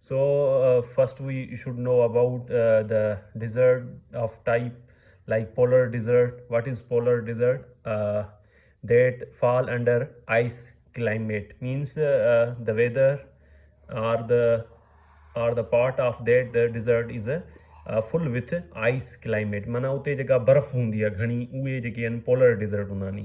So first we should know about the desert of type like polar desert what is polar desert that fall under ice climate means the weather are the are the part of that desert is a full with ice climate معنی اتي جيڪا برف هوندي آهي گهڻي اهي جيڪي آهن پولر ڊيزرٽ هوندا آهن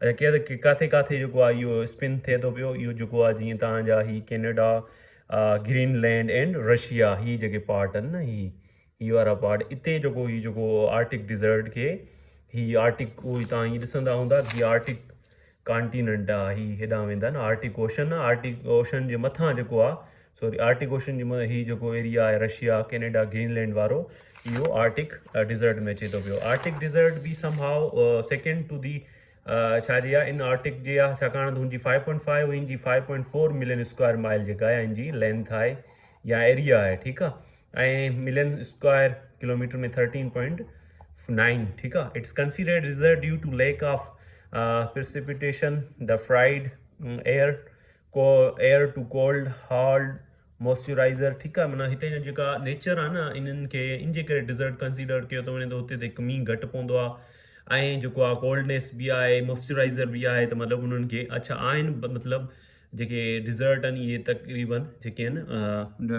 اچا ڪير ڪاٿي ڪاٿي جيڪو آ اهو اسپن ٿئي ٿو پيو اهو جيڪو آ جيئن تهان جا هي Canada Greenland and Russia هي جيڪي پارٽ ان نه هي هي وارا پارٽ اتي جيڪو هي جيڪو آرٽڪ ڊيزرٽ کي هي آرٽڪ اهو هي تهان هي ڏسندا هوندا هي آرٽڪ ڪانٽيننٽ آ هي هيڏان ويندا نه آرٽڪ اوشن آرٽڪ اوشن جي مٿان جيڪو آ سوري آرٽڪ اوشن جي مطلب هي جيڪو ايريا آهي رشيا ڪينيڊا گرين لينڊ وارو اهو آرٽڪ ڊيزرٽ ۾ اچي ٿو پيو آرٽڪ ڊيزرٽ به سم هاء سيڪنڊ ٽو دي ڇا جي آ ان آرٽڪ جي آ ڇاڪاڻ هن جي فائيو پوائنٽ فائيو ان جي five point four million square mile جيڪا آهي ان جي لينٿ آهي يا ايريا آهي ٺيڪ آ ۽ million square kilometre ۾ thirteen point nine ٺيڪ آ it's considered desert due to lack of precipitation the fried air ڪو air too cold hard moisturizer ٺيڪ آهي معنيٰ هتي جا جيڪا نيچر آهي نه انهن کي ان جي ڪري ڊيزرٽ ڪنسيڊر ڪيو ٿو وڃي ته هتي تي مينهن گهٽ پوندو آهي ۽ جيڪو آهي ڪولڊنيس بي آهي موئسچرائزر بي آهي ته مطلب انهن کي اڇا آهن مطلب جيڪي ڊيزرٽ آهن اهي تقريبن جيڪي آهن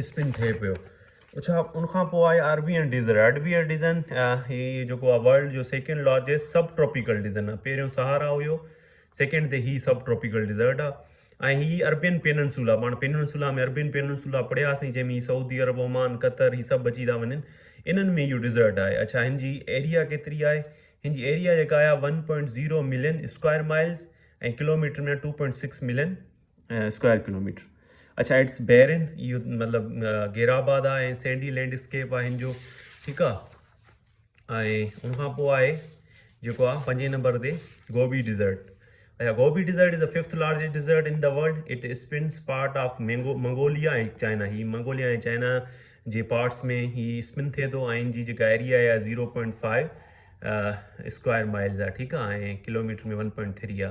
اسپن ٿئي پيو اڇا ان کان پوء آئي Arabian desert Arabian desert هي جيڪو آ ورلڊ جو second largest subtropical desert آ پهريون سهارا هيو سيڪنڊ تي هي سب ٽروپيڪل ڊيزرٽ آ ۽ هي اربين پيننسولا پاڻ پيننسولا ۾ اربين پيننسولا پڙهياسين جنهن ۾ سعودي عرب عمان قطر هي سڀ اچي ٿا وڃن انهن ۾ اهو ڊيزرٽ آهي اڇا هن جي ايريا ڪيتري آهي هن جي ايريا جيڪا آهي one point zero million square miles ۽ kilometre ۾ two point six million square kilometre اڇا اٽس بيرن اهو مطلب گير آباد آ ۽ سينڊي لينڊ اسڪيپ آ هن جو ٺيڪ آ ۽ ان کان پوء آهي جيڪو آ پنجين نمبر تي گوبي ڊيزرٽ اچھا Gobi desert is a fifth largest desert in the world it spans part of mango Mongolia ۽ China هي منگوليا ۽ چائنا جي پارٽس ۾ هي اسپن ٿئي ٿو ۽ ان جي جيڪا ايريا آهي اها zero point five square miles آ ٺيڪ آ ۽ ڪلوميٽر ۾ ون پوائنٽ ٿري آ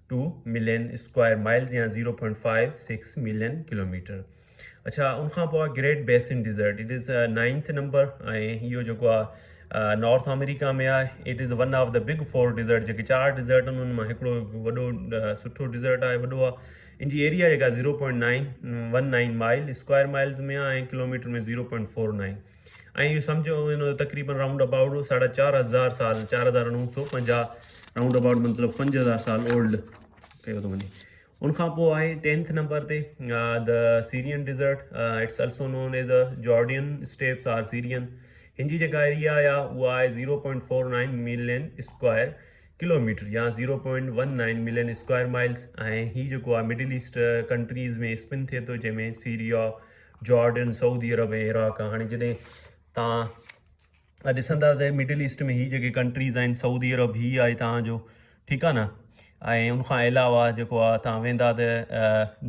ٽو ملين اسڪوائر مائلز يا zero point five six million kilometre اڇا ان کان پوء great basin desert it is ninth number ۽ اهو جيڪو آهي نارٿ آمريڪا ۾ آهي it is one of the big four desert جيڪي چار ڊيزرٽ آهن ان مان هڪڙو وڏو سٺو ڊيزرٽ آهي وڏو آهي ان جي ايريا جيڪا zero point nine one nine mile square miles ۾ آهي ۽ kilometre ۾ zero point four nine ۽ اهو سمجهو ان جو تقريبن رائونڊ ابائوٽ ساڍا چار هزار سال، چار هزار نو سو پنجاهه رائونڊ ابائوٽ مطلب پنج هزار سال اولڊ ڪيو ٿو وڃي. ان کان پوء آهي ٽينٿ نمبر تي The Syrian Desert، It's also known as the Jordan Steppes or Syrian، هن جي جيڪا ايريا آهي اها آهي zero point four nine million square kilometre يا zero point one nine million square miles ۽ هي جيڪو آهي مڊل ايسٽ ڪنٽريز ۾ اسپن ٿئي ٿو جنهن ۾ سيريا، جارڊن سعودي عرب ۽ عراق آ هاڻي جڏهن تان اڄ ڏسندا ته مڊل ايسٽ ۾ هي جيڪي ڪنٽريز آهن سعودي عرب هي آهي تان جو ٺيڪ آ نه ۽ ان کان علاوه جيڪو آ تان ويندا ته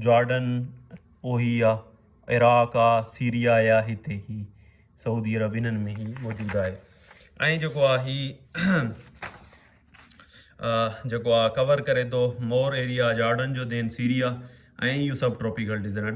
جارڊن او هي آ عراق آ سيريا آ هتي هي سعودي عرب انن ۾ هي موجود آهي ۽ جيڪو آ هي جيڪو آ ڪور ڪري تو مور ايريا جارڊن جو دين سيريا ۽ يو سب ٽروپيڪل ڊيزنٽ